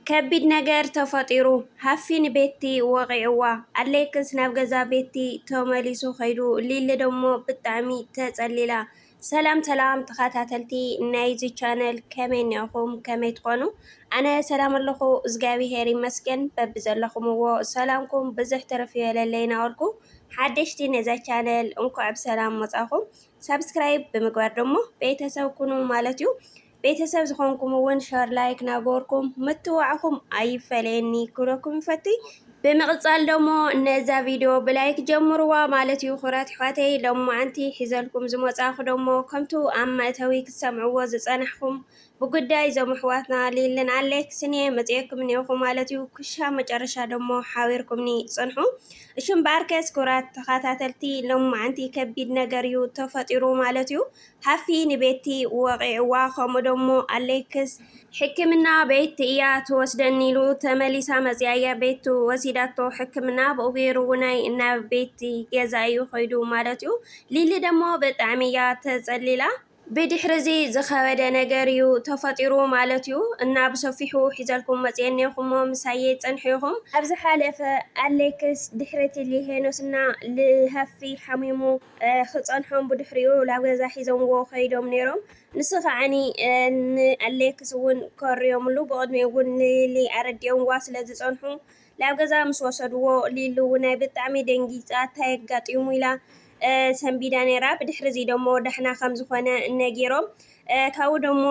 ከቢድ ነገር ተፈጢሩ፣ ሃፊ ንቤቲ ወቒዕዋ፣ ኣሌክስ ናብ ገዛ ቤቲ ተመሊሱ ከይዱ፣ ሊሊ ደሞ ብጣዕሚ ተጸሊላ። ሰላም ሰላም ተኻታተልቲ ናይዚ ቻነል ከመይ እኒኣኹም ከመይ ትኾኑ ኣነ ሰላም ኣለኹ እዝጋቢሄር ይመስገን በብዘለኹምዎ ሰላምኩም ብዝሕ ትርፍ ይበለለይ ናበልኩ ሓደሽቲ ነዛ ቻነል እንኳዕ ብሰላም መጻኹም ሳብስክራይብ ብምግባር ደሞ ቤተሰብ ኩኑ ማለት እዩ። ቤተሰብ ዝኾንኩም እውን ሸር ላይክ ናገርኩም ምትዋዕኹም ኣይፈለየኒ ክብለኩም ይፈትይ ብምቕጻል ደሞ ነዛ ቪድዮ ብላይክ ጀምርዋ ማለት እዩ ኩራት ኣሕዋተይ ሎም መዓንቲ ሒዘልኩም ዝመጻኹ ደሞ ከምቱ ኣብ መእተዊ ክትሰምዕዎ ዝጸናሕኩም ብጉዳይ ዞም ኣሕዋትና ሊልን ኣሌክስ እኔ መጽኤኩም እኔኹ ማለት እዩ ክሻ መጨረሻ ደሞ ሓቢርኩምኒ ጽንሑ እሽም በኣርከስ ኩራት ተኸታተልቲ ሎም መዓንቲ ከቢድ ነገር እዩ ተፈጢሩ ማለት እዩ ሃፊ ንቤቲ ወቒዕዋ ከምኡ ደሞ ኣሌክስ ሕክምና ቤት እያ ትወስደኒ ኢሉ ተመሊሳ መጽያ እያ ቤቱ ወሲዳቶ ሕክምና ብኡ ገይሩ ውናይ እና ቤቲ ገዛ እዩ ከይዱ ማለት እዩ ሊሊ ደሞ ብጣዕሚ እያ ተጸሊላ ብድሕሪ እዚ ዝኸበደ ነገር እዩ ተፈጢሩ ማለት እዩ እና ብሰፊሑ ሒዘልኩም መፅኤን ኔኹሞ ምሳየ ፀንሑ ኢኹም። ኣብ ዝሓለፈ ኣሌክስ ድሕሪ እቲ ሊሄኖስ እና ልሃፊ ሓሚሙ ክጸንሖም ብድሕሪኡ ላብ ገዛ ሒዞምዎ ከይዶም ኔሮም ንሱ ከዓኒ ን ኣሌክስ ውን ከርዮምሉ ብቅድሚኡ ውን ንሊሊ ኣረዲኦምዋ ስለ ዝጸንሑ ላብ ገዛ ምስ ወሰድዎ ሊሊ ውናይ ብጣዕሚ ደንጊጻ እታይ ኣጋጢሙ ኢላ ሰንቢዳ ኔራ ብድሕሪዚ ደሞ ዳሕና ከም ዝኮነ ነጊሮም ካውኡ ደሞ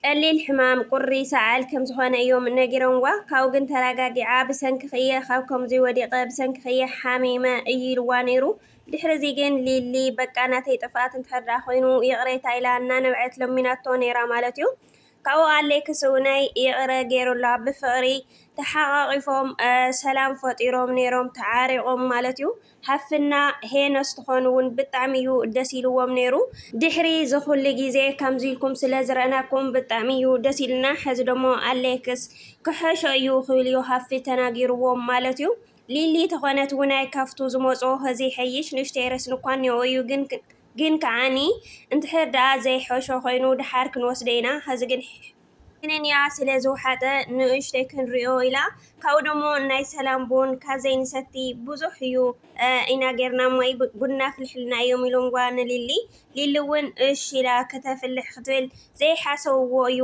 ቀሊል ሕማም ቁሪ ሰዓል ከም ዝኾነ እዮም ነጊሮምዋ ካብኡ ግን ተራጋጊዓ ብሰንክኺ እየ ካብ ከምዙይ ወዲቀ ብሰንክኺ እየ ሓሚመ እዩ ኢልዋ ነይሩ ድሕሪ እዙይ ግን ሊሊ በቃ ናተይ ጥፍኣት እንድሕር ደኣ ኮይኑ ይቅሬታ ኢላ እናነብዐት ለሚናቶ ነይራ ማለት እዩ ካብኡ ኣሌክስ እውነይ ይቕረ ገይሩላ ብፍቕሪ ተሓቓቒፎም ሰላም ፈጢሮም ነይሮም ተዓሪቖም ማለት እዩ። ሃፍትና ሄኖስ ትኾኑ ውን ብጣዕሚ እዩ ደስ ኢልዎም ነይሩ ድሕሪ ዝኹሉ ግዜ ከምዚ ኢልኩም ስለ ዝረእናኩም ብጣዕሚ እዩ ደስ ኢልና ሕዚ ደሞ ኣሌክስ ክሐሾ እዩ ክብል እዩ ሃፊ ተናጊርዎም ማለት እዩ ሊሊ ተኾነት ውናይ ካፍቱ ዝመጾ ህዚ ይሐይሽ ንእሽተይ ረስኒ እኳ እኒኦ እዩ ግን ግን ከዓኒ እንድሕር ደኣ ዘይሐሾ ኮይኑ ደሓር ክንወስዶ ኢና ህዚ ግን ክንንያ ስለ ዝውሓጠ ንኡሽተይ ክንሪኦ ኢላ ካብኡ ደሞ ናይ ሰላም ቡን ካዘይ ንሰቲ ብዙሕ እዩ ኢና ጌርና እሞ ቡና ኣፍልሕልና እዮም ኢሎምዋ ንሊሊ ሊሊ እውን እሽ ኢላ ክተፍልሕ ክትብል ዘይሓሰብዎ እዩ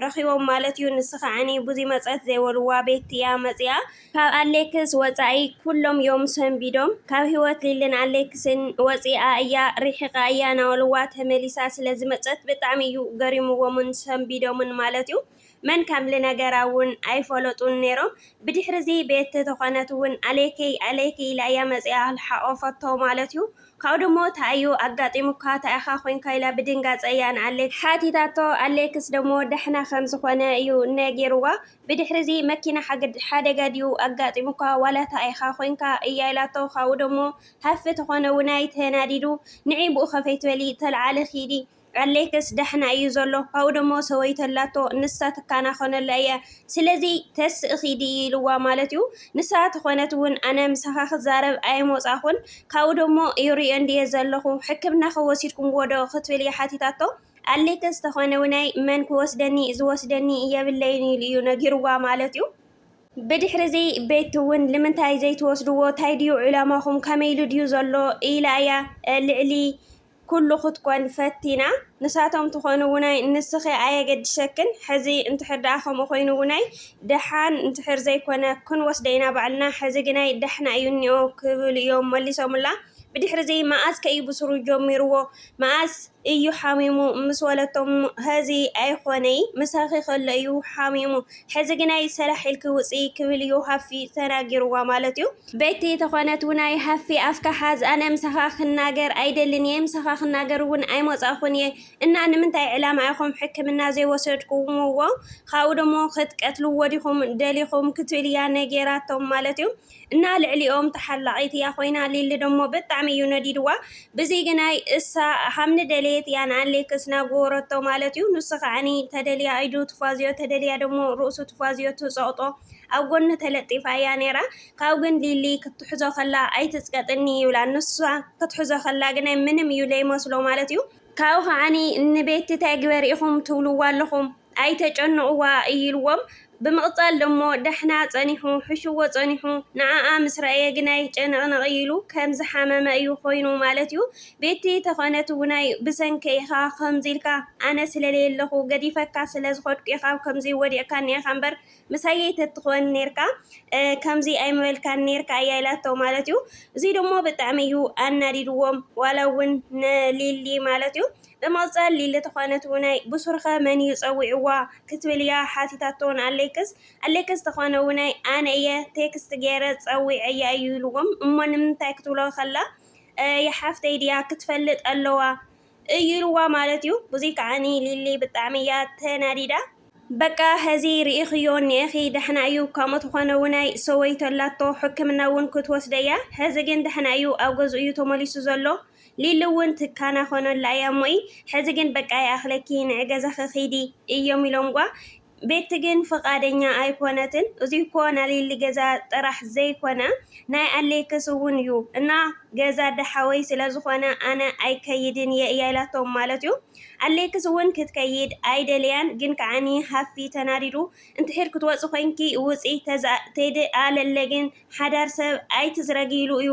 ረኺቦም ማለት እዩ ንስኻዓኒ ቡዙይ መፀት ዘይበልዋ ቤት እያ መፂኣ ካብ ኣሌክስ ወጻኢ ኩሎም ዮም ሰንቢዶም ካብ ሂወት ሊልን ኣሌክስን ወጺኣ እያ ሪሒቃ እያ ናዋልዋ ተመሊሳ ስለ ዝመጸት ብጣዕሚ እዩ ገሪምዎምን ሰንቢዶምን ማለት እዩ መን ከም ልነገራ ውን ኣይፈለጡን ኔሮም ብድሕሪዚ ቤቲ ተኾነት ውን ኣሌክይ ኣሌክይ ኢላ እያ መጺኣ ልሓቆፈቶ ማለት እዩ ካብኡ ደሞ ታይ እዩ ኣጋጢሙካ ታይ ኢኻ ኮንካ ኢላ ብድንጋጸ እያ ንኣሌክስ ሓቲታቶ ኣሌክስ ደሞ ዳሕና ከም ዝኾነ እዩ ነጊርዋ ብድሕሪ'ዚ መኪና ሓደጋ ድዩ ኣጋጢሙካ ዋላ እታ ኢኻ ኮይንካ እያ ኢላቶ ካብኡ ደሞ ሃፊ ተኾነ ውናይ ተናዲዱ ንዒ ብኡ ከፈይትበሊ ተልዓሊ ኪዲ ኣለይክስ ዳሕና እዩ ዘሎ ካብኡ ደሞ ሰበይቱ ኣላቶ ንሳ ትካናኾነላ እያ ስለዚ ተስኢ ኪዲ ኢልዋ ማለት እዩ ንሳ ተኾነት ውን ኣነ ምሳኻ ክዛረብ ኣይሞጻኹን ካብኡ ደሞ ይሪኦ እንድየ ዘለኹ ሕክምናኸ ወሲድኩምዎ ዶ ክትብል እያ ሓቲታቶ ኣሌክስ ተኾነውናይ መን ክወስደኒ ዝወስደኒ የብለይን ኢሉ እዩ ነጊርዋ ማለት እዩ። ብድሕሪዚ ቤቲ እውን ልምንታይ ዘይትወስድዎ ታይ ድዩ ዕላማኹም ከመይሉ ድዩ ዘሎ ኢላ እያ ልዕሊ ኩሉ ክትኮን ፈቲና ንሳቶም ትኾንውናይ ንስኺ ኣየገድሸክን ሕዚ እንድሕር ድኣ ከምኡ ኮይኑውናይ ድሓን እንድሕር ዘይኮነ ክንወስደ ኢና ባዕልና ሕዚ ግናይ ዳሕና እዩ እኒኦ ክብሉ እዮም መሊሶምላ ብድሕሪዚ መኣዝ ከ እዩ ብስሩ ጀሚርዎ መኣዝ እዩ ሓሚሙ ምስ ወለቶ እሞ ሀዚ ኣይኾነይ ምሳኺ ከሎ እዩ ሓሚሙ ሐዚ ግናይ ሰራሕ ኢልኪ ውፂ ክብል እዩ ሃፊ ተናጊርዋ ማለት እዩ ቤቲ ተኾነት ውናይ ሃፊ ኣፍካ ሓዝ ኣነ ምሳኻ ክናገር ኣይደልን እየ ምሳኻ ክናገር እውን ኣይሞፃኹን እየ እና ንምንታይ ዕላማ ኢኹም ሕክምና ዘይወሰድኩምዎ ካብኡ ደሞ ክትቀትልዎ ዲኹም ደሊኹም ክትብል እያ ነጌራቶም ማለት እዩ እና ልዕሊኦም ተሓላቂት እያ ኮይና ሊሊ ደሞ ብጣዕሚ እዩ ነዲድዋ ብዘይግናይ እሳ ሃምኒ ደለየት እያ ንኣሌክስ ናጎወረቶ ማለት እዩ ንሱ ከዓኒ ተደልያ ኣይዱ ትፏዝዮ ተደልያ ደሞ ርእሱ ትፏዝዮ ትጸቅጦ ኣብ ጎኒ ተለጢፋ እያ ነራ ካብ ግን ሊሊ ክትሕዞ ከላ ኣይትጽቀጥኒ ይብላ ንሳ ክትሕዞ ከላ ግናይ ምንም እዩ ለይመስሎ ማለት እዩ ካብኡ ከዓኒ ንቤቲ ታይ ግበሪ ኢኹም ትብልዋ ኣለኹም ኣይተጨንቕዋ ኢልዎም ብምቕጻል ደሞ ዳሕና ጸኒሑ ሕሽዎ ጸኒሑ ንዓኣ ምስ ረኣየ ግናይ ጨንቕንቕ ኢሉ ከም ዝሓመመ እዩ ኮይኑ ማለት እዩ ቤቲ ተኾነት ውናይ ብሰንከይ ኢኻ ከምዚ ኢልካ ኣነ ስለለየለኹ ገዲፈካ ስለዝኸድኩ ኢኻ ከምዚ ወዲቕካኒ ኢኻ እምበር ምሳየይ ተትኾን ኔርካ ከምዚ ኣይምበልካን ኔርካ እያ ኢላቶ ማለት እዩ። እዙይ ደሞ ብጣዕሚ እዩ ኣናዲድዎም ዋላ እውን ንሊሊ ማለት እዩ። ብምቕፃል ሊሊ ተኾነት እውናይ ብሱርኸ መን እዩ ፀዊዕዋ ክትብል እያ ሓቲታቶ ንኣሌክስ። ኣሌክስ ተኾነ እውናይ ኣነ እየ ቴክስት ገይረ ፀዊዐያ እዩ ኢልዎም። እሞ ንምንታይ ክትብሎ ከላ የሓፍተይ ድያ ክትፈልጥ ኣለዋ እዩ ኢልዋ ማለት እዩ። ብዙይ ከዓኒ ሊሊ ብጣዕሚ እያ ተናዲዳ። በቃ ሀዚ ሪኢኽዮ እኒኤኺ ደሕና እዩ ከምኡ ተኾነ እውን ኣይ ሰወይቶ ኣላቶ ሕክምና እውን ክትወስደ እያ ሀዚ ግን ደሕና እዩ ኣብ ገዝኡ እዩ ተመሊሱ ዘሎ ሊሊ እውን ትካናኸኖላ እያ እሞይ ሀዚ ግን በቃ ይኣኽለኪ ንዒ ገዛኺ ኺዲ እዮም ኢሎምጓ ቤቲ ግን ፍቃደኛ ኣይኮነትን እዙይ እኮ ናሊሊ ገዛ ጥራሕ ዘይኮነ ናይ ኣሌክስ እውን እዩ እና ገዛ ዳሓወይ ስለዝኮነ ኣነ ኣይከይድን እየ እያ ኢላቶም ማለት እዩ ኣሌክስ እውን ክትከይድ ኣይደለያን ግን ከዓኒ ሃፊ ተናዲዱ እንትሕር ክትወፂ ኮይንኪ ውፂ ተዝኣ ተይድ ኣለለ ግን ሓዳር ሰብ ኣይትዝረጊ ኢሉ እዩ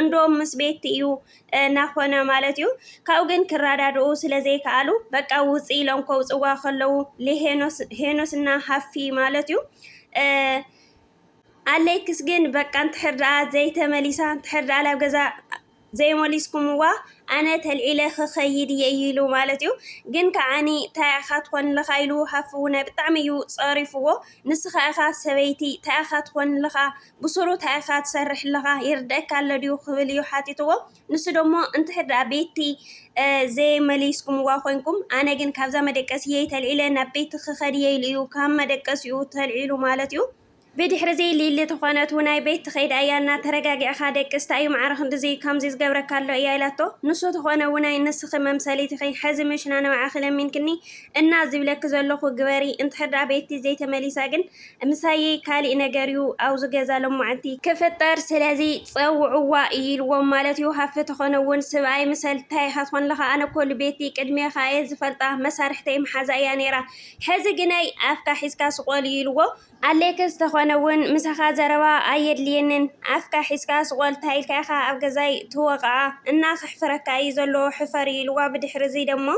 እንዶም ምስ ቤቲ እዩ ናኾነ ማለት እዩ። ካብኡ ግን ክራዳድኡ ስለዘይከኣሉ በቃ ውፂ ኢሎም ከውፅዋ ከለዉ ሄኖስ እና ሃፊ ማለት እዩ ኣሌክስ ግን በቃ እንድሕር ደኣ ዘይተመሊሳ እንድሕር ደኣ ናብ ገዛ ዘይመሊስኩምዋ ኣነ ተልዒለ ክኸይድ እየ እዩ ኢሉ ማለት እዩ። ግን ከዓኒ እንታይ ኢኻ ትኾንልኻ ኢሉ ሃፍውነ ብጣዕሚ እዩ ፀሪፍዎ። ንስኻ ኢኻ ሰበይቲ እንታይ ኢኻ ትኾንልኻ ብሱሩ ታይ ኢኻ ትሰርሕ ኣለኻ ይርደኣካ ኣሎ ድዩ ክብል እዩ ሓቲትዎ ንሱ ደሞ እንተ ደኣ ቤቲ ዘይመሊስኩምዋ ኮይንኩም ኣነ ግን ካብዛ መደቀስየይ ተልዒለ ናብ ቤቲ ክኸድ እየ ኢሉ እዩ ካብ መደቀሲኡ ተልዒሉ ማለት እዩ ብድሕሪ ዘይ ሊሊ ተኾነት ውናይ ቤት ትኸይድ ኣያ እና ተረጋጊዕኻ ደቅስ ታዩ ማዕረ ክንድዚ ከምዚ ዝገብረካ ኣሎ እያ ኢላቶ ንሱ ተኾነ ውናይ ንስኺ መምሰሊት ኢኺ ሕዚ ምሽና ንባዕኺ ለሚንክኒ እና ዝብለኪ ዘለኹ ግበሪ እንተ ደኣ ቤቲ ዘይተመሊሳ ግን ምሳየይ ካሊእ ነገር እዩ ኣብዚ ገዛ ሎማዓንቲ ክፍጠር ስለዚ ፀውዕዋ እዩ ኢልዎም ማለት እዩ ሃፍቲ ተኾነ እውን ስብኣይ ምሰል ታይ ኢኻ ትኾንለኻ ኣነ እኮ ልቤቲ ቅድሜኻ እየ ዝፈልጣ መሳርሕተይ መሓዛ እያ ነይራ ሕዚ ግናይ ኣፍካ ሒዝካ ስቆል እዩ ኢልዎ ኣሌክስ ተኾነ እውን ምሳኻ ዘረባ ኣየድልየንን ኣፍካ ሒዝካ ስቆል ታይ ኢልካ ኢኻ ኣብ ገዛይ ትወቕዓ እና ከሕፍረካ እዩ ዘለዎ ሕፈር እዩ ኢልዋ ብድሕሪ እዚ ደሞ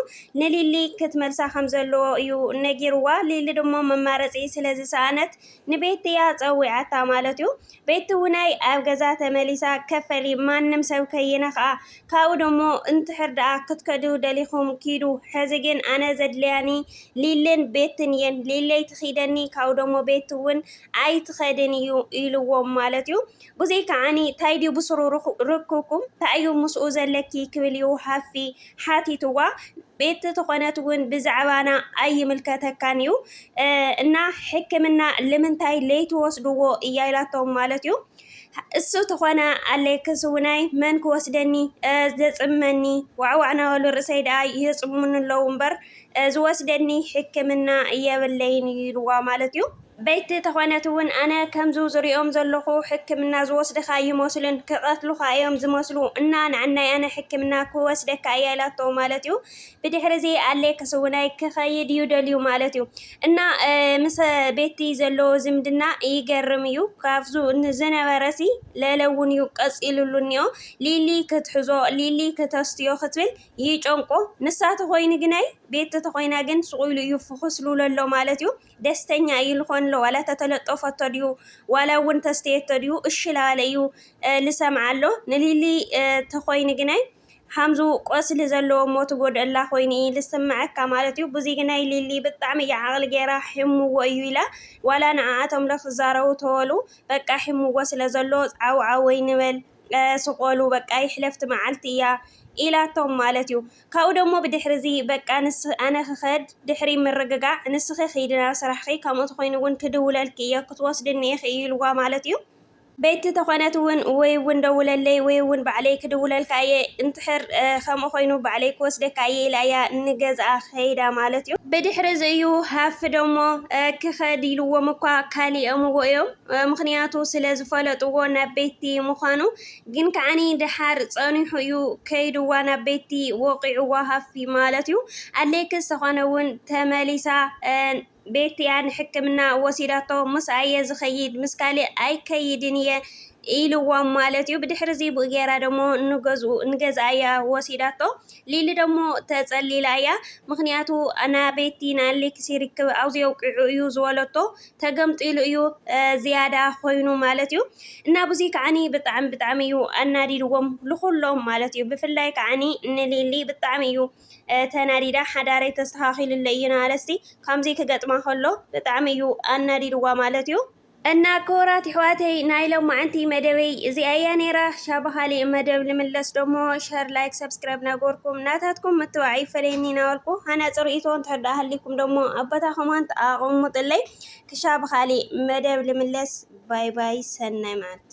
ንሊሊ ክትመልሳ ከም ዘለዎ እዩ ነጊርዋ። ሊሊ ድሞ መማረፂ ስለ ዝሰኣነት ንቤቲ እያ ፀዊዓታ ማለት እዩ። ቤቲ ውናይ ኣብ ገዛ ተመሊሳ ከፈሊ ማንም ሰብ ከይነክኣ ካብኡ ድሞ እንትሕር ደኣ ክትከዱ ደሊኹም ኪዱ ሕዚ ግን ኣነ ዘድልያኒ ሊልን ቤትን እየን ሊሊ ኣይትኺደኒ ካብኡ ድሞ ቤቲ እውን ኣይትኸድን እዩ ኢልዎም ማለት እዩ። ብዙይ ከዓኒ ታይ ድዩ ብስሩ ርኩኩም ታይ እዩ ምስኡ ዘለኪ ክብል እዩ ሃፊ ሓቲትዋ ቤት ተኾነት ውን ብዛዕባና ኣይምልከተካን እዩ እና ሕክምና ልምንታይ ለይትወስድዎ እያ ኢላቶም ማለት እዩ እሱ ተኾነ ኣሌክስ ውናይ መን ክወስደኒ ዘፅመኒ ዋዕዋዕ ናበሉ ርእሰይ ደኣ የፅሙኒ ኣለዉ እምበር ዝወስደኒ ሕክምና የብለይን እዩ ኢልዋ ማለት እዩ። በቲ ተኾነት እውን ኣነ ከምዙ ዝሪኦም ዘለኹ ሕክምና ዝወስድኻ ኣይመስሉን ክቀትሉኻ እዮም ዝመስሉ እና ንዓናይ ኣነ ሕክምና ክወስደካ እያ ኢላቶ ማለት እዩ። ብድሕሪ እዚ ኣሌክስ እውናይ ክኸይድ እዩ ደልዩ ማለት እዩ እና ምስ ቤቲ ዘለዎ ዝምድና ይገርም እዩ ካብዙ ዝነበረሲ ለለውን እዩ ቀፂሉሉ እኒኦ ሊሊ ክትሕዞ ሊሊ ክተስትዮ ክትብል ይጨንቆ ንሳ ተኮይኒ ግናይ ቤት ተተኮይና ግን ሱቅ ኢሉ እዩ ፍኩስ ልብሎ ኣሎ ማለት እዩ ደስተኛ እዩ ልኮን ኣሎ ዋላ ተተለጦፈቶ ድዩ ዋላ እውን ተስተየቶ ድዩ እሺ ላለ እዩ ልሰምዓ ኣሎ ንሊሊ ተኮይኒ ግናይ ሃምዙ ቆስሊ ዘለዎ እሞ ትጎድእላ ኮይኑ እዩ ዝስምዐካ ማለት እዩ ብዙይ ግናይ ሊሊ ብጣዕሚ እያ ዓቕሊ ገይራ ሕምዎ እዩ ኢላ ዋላ ንኣኣቶም ለክዛረቡ ተወሉ በቃ ሕምዎ ስለ ዘሎ ዓው ዓወይ ንበል ስቆሉ በቃ ይሕለፍ እቲ መዓልቲ እያ ኢላቶም ማለት እዩ። ካብኡ ደሞ ብድሕሪ እዚ በቃ ንስ ኣነ ክኸድ ድሕሪ ምርግጋዕ ንስኺ ኺዲ ናብ ስራሕኺ ከምኡ ተኾይኑ እውን ክድውለልኪ እየ ክትወስድኒ ኢኺ እዩ ኢልዋ ማለት እዩ። ቤቲ ተኾነት እውን ወይ እውን ደውለለይ ወይ እውን ባዕለይ ክድውለልካ እየ እንትሕር ከምኡ ኮይኑ ባዕለይ ክወስደካ እየ ኢላ እያ ንገዝኣ ከይዳ ማለት እዩ። ብድሕሪ እዚ እዩ ሃፍ ደሞ ክኸድ ኢልዎም እኳ ካሊኦምዎ እዮም። ምኽንያቱ ስለ ዝፈለጥዎ ናብ ቤቲ ምዃኑ ግን ከዓኒ ደሓር ጸኒሑ እዩ ከይድዋ ናብ ቤቲ ወቒዕዋ ሃፊ ማለት እዩ ኣሌክስ ተኾነ ውን ተመሊሳ ቤቲ እያ ንሕክምና ወሲዳቶ ምስኣ እየ ዝኸይድ ምስ ካልእ ኣይከይድን እየ ኢልዎም ማለት እዩ ብድሕሪ እዚ ብኡ ገይራ ደሞ ንገዝኡ ንገዝኣ እያ ወሲዳቶ ሊሊ ደሞ ተጸሊላ እያ ምኽንያቱ ኣና ቤቲ ንኣሌክስ ይርክብ ኣውዚ የውቂዑ እዩ ዝበለቶ ተገምጢሉ እዩ ዝያዳ ኮይኑ ማለት እዩ እና ብዙይ ከዓኒ ብጣዕሚ ብጣዕሚ እዩ ኣናዲድዎም ልኹሎም ማለት እዩ ብፍላይ ከዓኒ ንሊሊ ብጣዕሚ እዩ ተናዲዳ ሓዳረይ ተስተኻኺልለ እዩ ናለሲ ከምዚ ክገጥማ ከሎ ብጣዕሚ እዩ ኣናዲድዋ ማለት እዩ እና ክቡራት ይሕዋተይ ናይ ሎማዓንቲ መደበይ እዚኣ እያ ነይራ ሻባኻሊ መደብ ልምለስ ደሞ ሸር ላይክ ሰብስ ሰብስክራይብ ናገበርኩም ናታትኩም ምትባዕ ይፈለየኒ ናበልኩ ሃናፂ ርእይቶ እንተዳ ሃሊኩም ደሞ ኣብ ቦታ ኮመንት ኣቐሙጥለይ ክሻ ብኻሊእ መደብ ልምለስ ባይ ባይ ሰናይ መዓልቲ